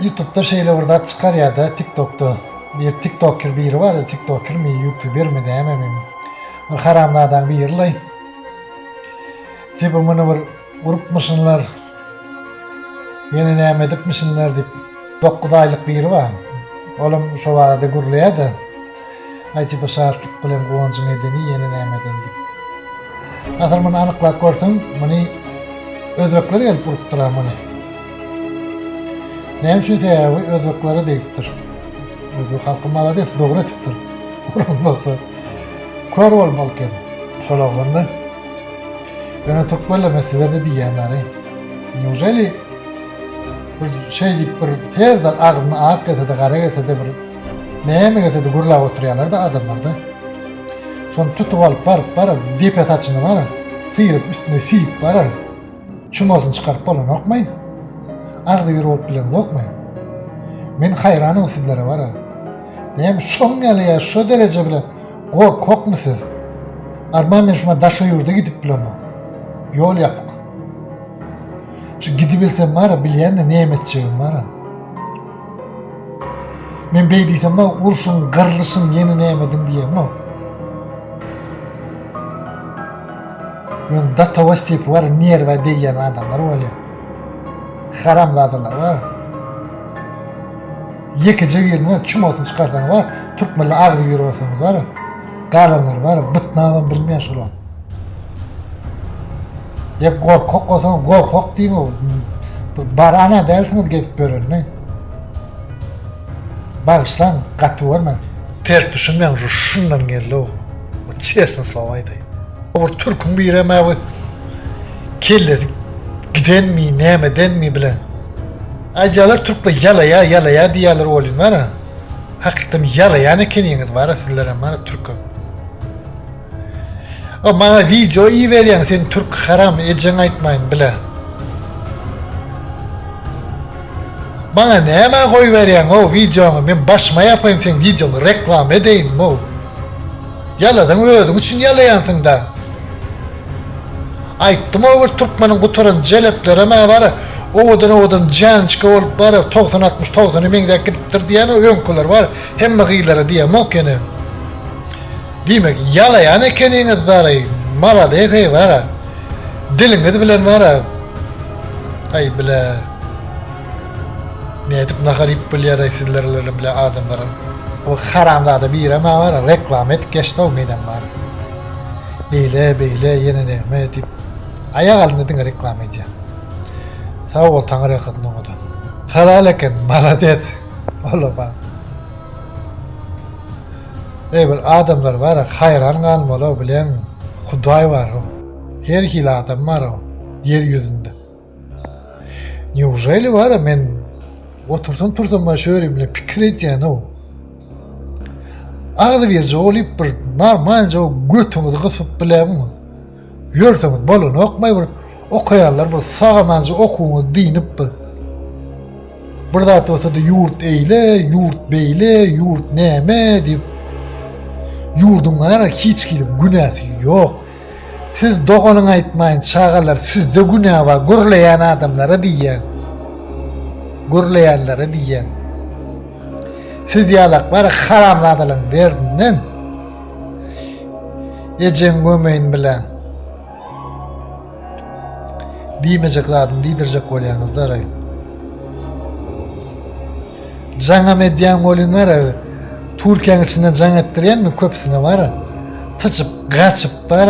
Ýutupda şeýle bir zat çykar ýa-da TikTokda bir TikToker biri bar, TikTokermi, YouTubermi nämemi. Bir haramzadaň biri laý. Tipi muny bir urupmyşynlar. Ýene näme edipmişinler diýip. 9 aýlyk biri bar. Olam şo barada gürleýär-de. Aýt bu şatlyk bilen guwanjyň edeni ýene nämeden dip. Asyl muny anyklap görseň, muny özbekler gelip urupdyr-a muny. Näme üçin sebäbi özbeklere degipdir. Özbek halky malades dogry etipdir. Uran bolsa kör bolmaly eken. Şol oglanlar Ýöne türkmenler men sizlerde diýýänleri. Neujeli bir şey diýip bir terden agzyny ak gelse-de, gara gelse-de bir Näme gelse-de gürläp oturýarlar-da adamlar-da. Şony tutup alyp baryp baryp depe saçyny bar, syryp üstüne süýüp bar, çumasyny çykaryp bolanokmaýyn. Agzy bir bolup bilemizokmaýyn. Men haýranam sizlere bar. Näme şoň ýaly ýa şo dereje bilen gorkakmy siz? Arman men şuna daşa ýurda gidip bilemok. Ýol ýapyk. Şu gidibilsem bar, bilýän-de näme etjegim bar. Men beý diýsem-ä, urşuň, gyrlyşyň ýene nämediň diýemok. Ýöne do togo stepeni bar, nerwa degýän adamlar bolýar. Haramzadalar bar. Ýekeje birine çumasyny çykarsaň bar, türkmenli agzy bir bolsaňyz bar. Galanlar bar, bytnamam bilmeýär şolar. Ya gorkak olsa gorkak diýip o. Barana dälsiňiz gezip görende. Bagyşlaň, gaty görme. Pert düşünmeň şu şundan geldi o. O çesni slow aýdaý. Owur türküň birem awy kellesi gidenmi, nämedenmi bilen. Aýjalar türkler ýalaýa, ýalaýa diýýäler olin bara. Hakykdan ýalaýan ekeniňiz bara sizlerem bara türküm. A maňa wideo iberýäň sen türk haram ejeň aýtmaýyn bile. Maňa nämä goýberýäň o wideoňy men başyma ýapaýyn seň wideoňy reklama edeýin mu. Ýalasaň özüň üçin ýalaýansyňda. Aýtdym o bir türkmeniň gutaran jeleplerem a bar owadan owadan janniçka bolup bar togsan altmyş togsana meňzäp gidipdir diýýän o öňküler bar hemme gyzlara diýemok ýene. Diýmek ýalaýan ekeniňiz daraý malades eý wara diliňiz bilen wara aý bile nädip nahar iýip bolýaraý sizler bilen bile adamlaram o haramzada birem wara reklama edip geçdou menem wara eýle beýle ýene näme diýip aýak alynda diňe reklama edýär sag bol taňyr ýalkasyn oňadan halal eken malades ola ba. Eý bir adamlar bara haýran galmalyw bileň hudaý barow her hili adam barow ýer ýüzünde neujeli bara men otursam tursam bara şu ýerimde pikir edýänow agzybirje bolup bir narmanca götüňizi gysyp bileňmi Ýörseňiz bolanokmaý bir okaýanlar bir sagamanja okuwyňyzy dynyp bir bir zat bolsady ýurt eýle ýurt beýle ýurt näme diýip ýurduň gara hiç kimiň günäsi ýok siz doganyň aýtmaýyn çagalar sizde günä bar gürleýän adamlara diýýän gürleýänlere diýýän siz ýalak bara haramzadalaryň derdinden Ejeň gömeýin bile. Diýmejek zadyny diýdirjek bolýaňyz da. Jaňam edýän bolýan bar. Türkiýäň içinde jaň etdirýänmi köpüsine bar. Tyçyp, gaçyp bar.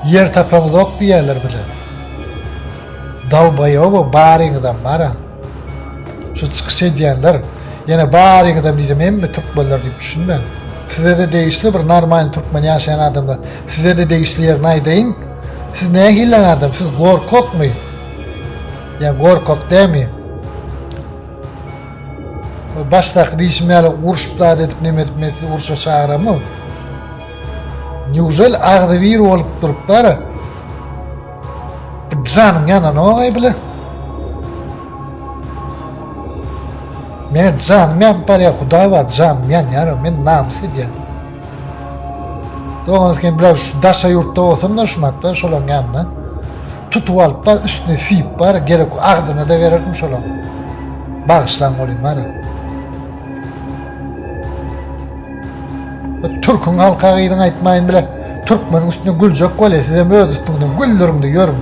Ýer tapamzok diýýäler bile. Dalbaýoby baryňyzam bara. Şu çykyş edýänler ýene baryňyzam diýsem hemme türkmenler diýip düşünme. Sizede degişli bir normal türkmen ýaşaýan adamlar. Sizede degişli ýerini aýdaýyn. Siz nähili adam? Siz gorkakmy? Ýa gorkak dämi? Başdaky diýişim ýaly urşup zat edip näme edip men sizi urşa çagyrammy? Newžel agzybir bolup durup bara. Janyň ýananok aý bile. Men janymy ýanyp barýar, hudaý bar, janymy ýanýar, men namys edýän. Dogan sen biraz şu daşa ýurtda bolsam da şumatda şolaň ýanyna. Tutup alyp bar, üstüne siýip bar, gerek agzyna da bererdim şolaň. Bagyşlaň bolýan bar. Türkün halka gyzyň aýtmaýyn bile, türkmeniň üstüne güljek bolýa, sizem öz üstüňizden güldüriňde ýörüň.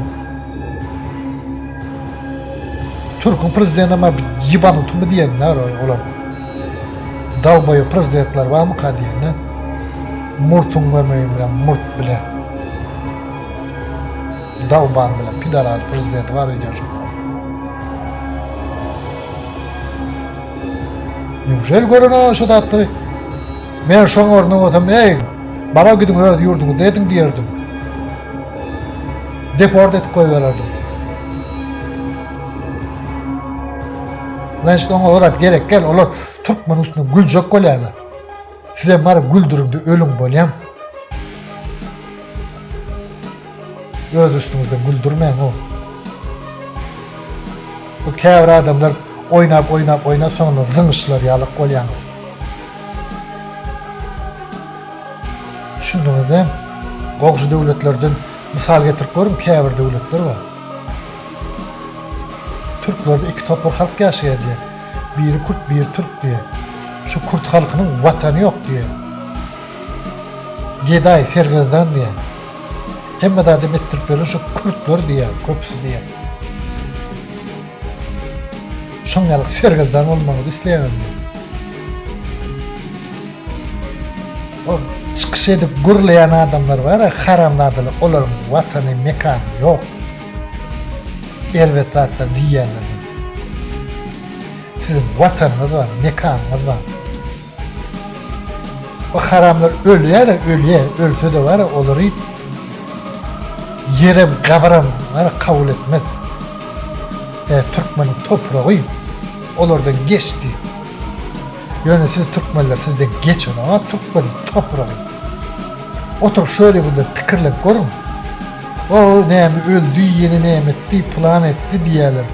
Türkün prezidenti ma ýybanutmy diýenler olar. Dalboýy prezidentler barmy ka diýenler. Murtuň gömeýi bilen murt bile. Dalban bile pidaraz prezidenti bar diýýär şoňa. Ýuwşel görene şo zatlary men şoň ornuna bolsam, eý, bara gidiň öz ýurduňyzda ediň diýerdim. Deport edip goýbererdim. Lan şoň o zat gerek gel, olar türkmen üstüne güljek bolýarlar. Sizem baryp güldüriňde ölüň bolýaň. Öz üstüňizden güldürmäň o. Bu käbir adamlar oýnap oýnap oýnap soňra zyňyşlar ýalyk bolýaňyz. Düşündiňizmi? Gowşy döwletlerden mysal getirip görüň, käbir döwletler bar. Türklerde iki topar halk ýaşaýar diýär. Biri kürt, biri türk diýýär. Şu kürt halkynyň watany ýok diýýär. Gedaý, sergezdan diýýär. Hemme zady bitdirip beren şu kürtler diýýär, köpüsi diýýär. Şoň ýaly sergezdan bolmagyňyzy isleýäňiz diýýär. O çykyş edip gürleýän adamlar bar-a, haramzadalar, olaryň watany, mekany ýok. Erbet zatlar diýýärler diýip. Siziň watanyňyz bar, mekanyňyz bar. O haramlar ölýär, ölýär, ölse de bar, olary ýerem, gabaram bar, kabul etmez. E, Türkmeniň topragy olardan geçdi. Ýöne siz türkmenler sizden geçen aga türkmen topragy. Oturup şöyle bile pikirlep görün. O näme öldü ýene näme etdi plan etdi diýerler.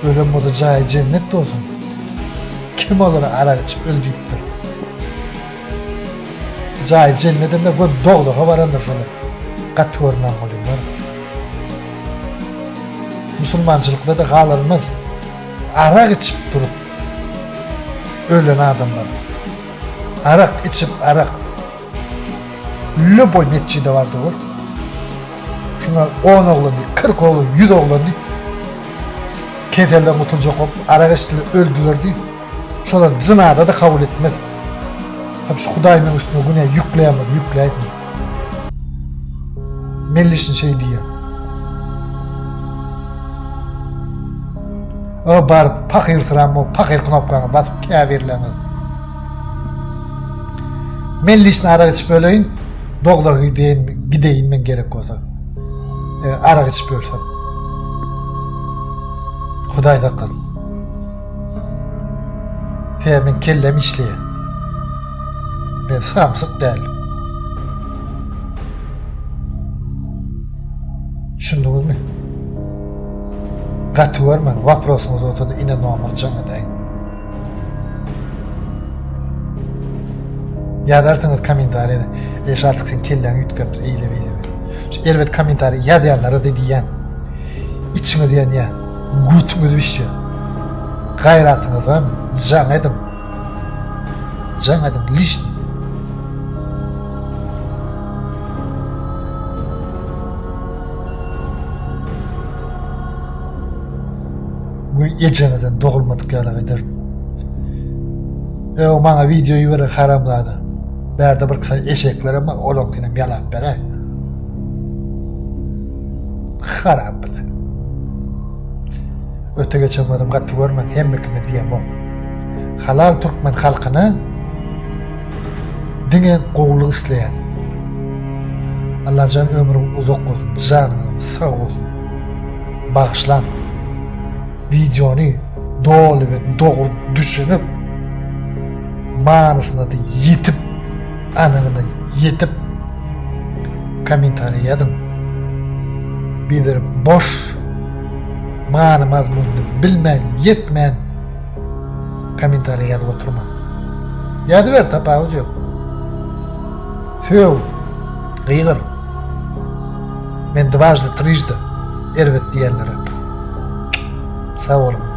Ölen bolsa jaýy jennet bolsun. Kim olara arak içip öl diýipdir. Jaýy jennetinde gör dogdaga barandyr şolar. Gat görmän bolýar. Musulmançylykda da galarmaz. Arak içip durup Ölen adamlar. Arak içip arak. Lüboy netçi de vardı ol. Şuna 10 oğlan değil, 40 oğlan, 100 oğlan değil. Keselden kutulacak olup, arak içtiler, öldüler değil. Şolar cınada da kabul etmez. Hep şu Hudaýynyň üstüne güne ýükleýän bolup ýükleýär. Mellişin şeý diýýär. O baryp pahyrsyrap o pahyr knopkany basyp käbirleriniz. Mellişin arak içip öleýin. Dogda gideýin, gideýin men gerek bolsa. E, arak içip ölsem. Hudaý saklasyn. Hä men kellem işleýär. Men samsyk däl. Düşündiňizmi? Gaty görmäň, waprosyňyz bolsa-da ine nomer jaň edäýin. Ýazarsyňyz kommentariýada, eý Şatlk sen kelläňi üýtgäpdir, eýle-beýle. Şu erbet kommentariý ýazýanlara-da diýýän, içiňiz ýanýar. Götüňiz bişsin. Gaýratyňyza jaň ediň. Jaň ediň lişni. Güý ejeňizden dogulmadyk ýaly eder. Ew maňa video ýüwere haramzada. Bärde bir kysy eşekler ama olaňkyny ýalap beräý. Haram bile. Öte geçen gözüm gaty görme, hemme kime diýemok. Halal türkmen halkyna diňe gowulyk isleýän. Allajan ömrüň uzak bolsun, janyň sag bolsun. Bagyşlan. Videony doly we dogry düşünip, manysyna ýetip Anygyna ýetip kommentariý ýazyň. Bizler boş many mazmunyny bilmän ýetmän kommentariý ýazyp oturmaň. Ýazyber tapawudy ýok. Söw, gygyr. Men dwajdy trijdy erbet diýenlere. Sag boluň.